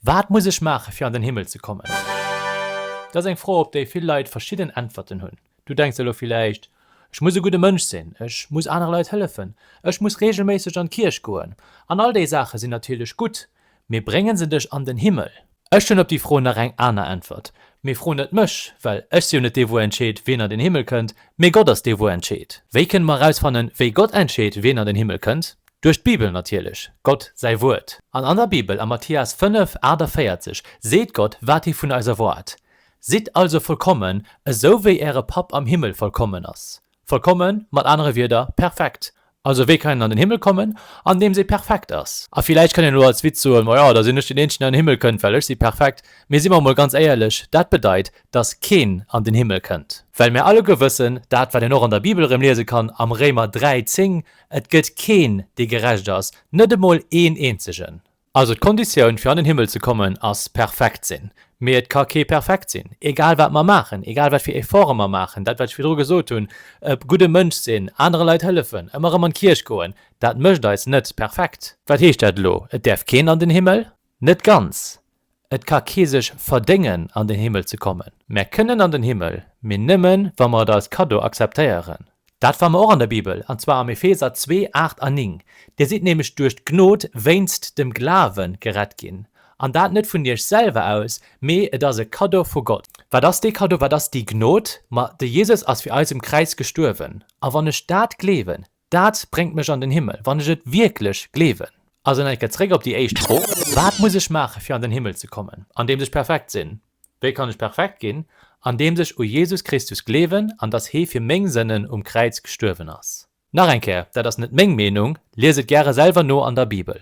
Wat muss ech maachen, fir an den Himmel ze kommen? Dat ass eng Fro, op déi vill Leit verschidden Äntwerten hunn. Du denks elo villäicht, Ech muss e gudde Mënsch sinn, ech muss anere Leit hëllefen, ech muss reegelméisseg an d'Kierch goen. An all déi Saache sinn natierlech gutt, mee brénge se dech an den Himmel? Ech hunn op déi Fro nach eng aner Äntwert, Mee fro net mech, well ech si jo net dee wou entscheet, wien an den Himmel kënnt, mee Gott ass dee wou entscheet. Wéi kënne mer erausfannen, wéi Gott entscheet, wien an den Himmel kënnt? Duerch d'Bibel natierlech, Gott säi Wuert. An an der Bibel, am Mathias 5, 48, seet Gott, wat hie vun eis erwaart, Sidd also vollkommen, esou wéi äre Papp am Himmel vollkommen ass. Vollkommen, mat anere Wierder, perfekt. Also wéi kann een an den Himmel kommen? Andeems ee perfekt ass. A villäicht kann een elo als Witz soen, Ma jo, da sinn ech den Eenzegen, deen an den Himmel kënnt, well ech si perfekt. Mee si mer emol ganz éierlech, dat bedeit, datt keen an den Himmel kënnt. Well mär alleguer wëssen, dat wat een och an der Bibel erëm liese kann, am Réimer 3, 10, Et gëtt keen, dee gerecht ass, net emol een eenzegen. Also d'Konditioun, fir an den Himmel ze kommen, ass perfekt sinn. Mee et ka kee perfekt sinn, egal wat mer maachen, egal wat fir Efforte mer maachen. Dat, wat ech virdru gesot hunn, e gudde Mënsch sinn, anere Leit hëllefen, ëmmer erëm an d'Kierch goen, dat mécht eis net perfekt. Wat heescht dat elo? Et däerf keen an den Himmel? Net ganz. Et ka kee sech verdéngen an den Himmel ze kommen. Mär kënnen an den Himmel, mee nëmmen wa mer et als Kaddo akzeptéieren. Dat fa mer och an der Bibel, an zwar am Epheser 2, 8 a 9, Dir sidd nämlech duerch d'Gnod wéinst dem Glawe gerett ginn, an dat net vun iech selwer aus, mee et ass e Kaddo vu Gott. Wat ass dee Kaddo, wat ass déi Gnod? Ma de Jesus ass fir eis um Kräiz gestuerwen, a wann ech dat gleewen, Dat bréngt mech an den Himmel, wann ech et wierklech gleewen. Also nach eng Kéier zréck op déi éischt Fro, Wat muss ech maachen, fir an den Himmel ze kommen? Andeems ech perfekt sinn. Wéi kann ech perfekt ginn? Andeems ech u Jesus Christus gleewen an dass hee fir meng Sënnen um Kräiz gestuerwen ass. Nach eng Kéier, dat ass net meng Meenung, lies et gäre selwer no an der Bibel.